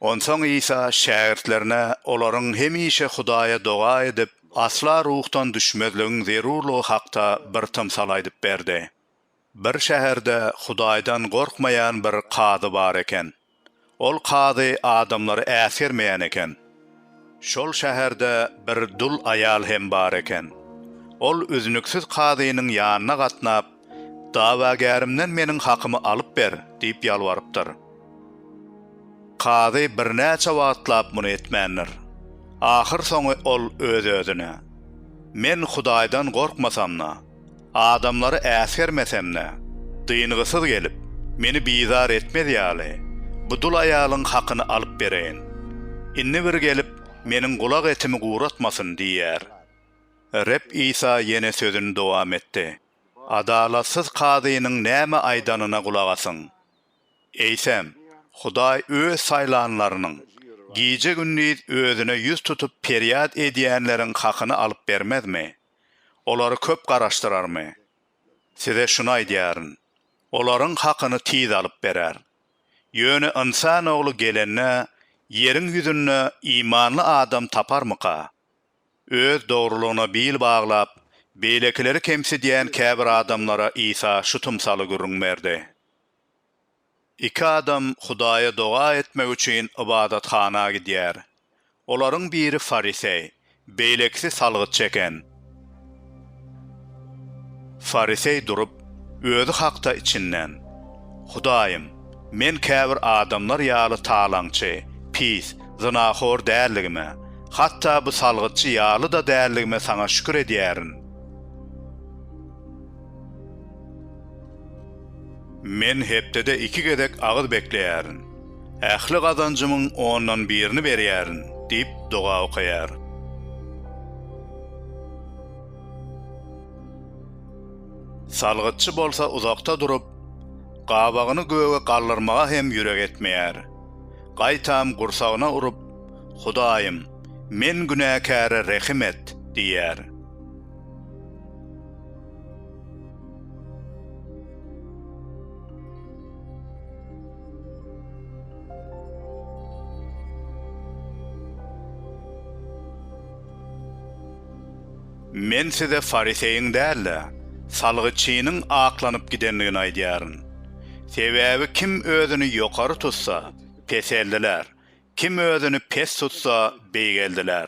Onsoň Isa şägirtlerine olaryň hemişe Hudaýa doga edip, asla ruhdan düşmezligiň zerurlygy hakda bir tymsal aýdyp berdi. Bir şäherde Hudaýdan gorkmaýan bir kazy bar eken. Ol kazy adamlary äsgermeýän eken. Şol şäherde bir dul aýal hem bar eken. Ol üznüksiz kazynyň ýanyna gatnap, Dawagärimden meniň hakymy alyp ber! diýip ýalbarypdyr. Kazy birnäçe wagtlap muny etmändir. Ahyrsoňy ol öz-özüne, Men Hudaýdan gorkmasam-da, Adamlary äsgermesem-de, dyngysyz gelip, meni bizar etmez ýaly, bu dul aýalyň hakyny alyp bereýin. Indi bir gelip, meniň gulak etimi guratmasyn diýýär. Reb Isa ýene sözüni dowam etdi, Adalatsyz kazynyň näme aýdanyna gulak asyň. Eýsem, Hudaý Öz saýlanlarynyň, gije-gündiz Özüne ýüz tutup perýat edýänleriň hakyny alyp bermezmi? Olary köp garaşdyrarmy? Size şuny aýdýaryn, olaryň hakyny tiz alyp berer. Ýöne Ynsan Ogly gelende, ýeriň ýüzünde imanly adam taparmyka? Öz dogrulygyna bil baglap, beýlekileri kemsidýän käbir adamlara Isa şu tymsaly gürrüň berdi. Iki adam Hudaýa doga etmek üçin ybadathana gidýär. Olaryň biri fariseý, beýlekisi salgytçy eken. Fariseý durup, özi hakda içinden, Hudaýym, men käbir adamlar ýaly talaňçy, pis, zynahor däldigime, hatda bu salgytçy ýaly-da däldigime Saňa şükür edýärin. Men hepdede iki gezek agyz bekleýärin. Ähli gazanjymyň ondan birini berýärin diýip doga okaýar. Salgytçy bolsa uzakda durup, gabagyny göge galdyrmaga hem ýürek etmeýär. Gaýtam gursagyna urup, Hudaýym, men günäkäre rehim et! diýýär. Men size fariseýiň däl-de, salgytçynyň aklanyp gidendigini aýdýaryn. Sebäbi kim özüni ýokary tutsa, peseldiler, kim özüni pes tutsa, beýgeldiler.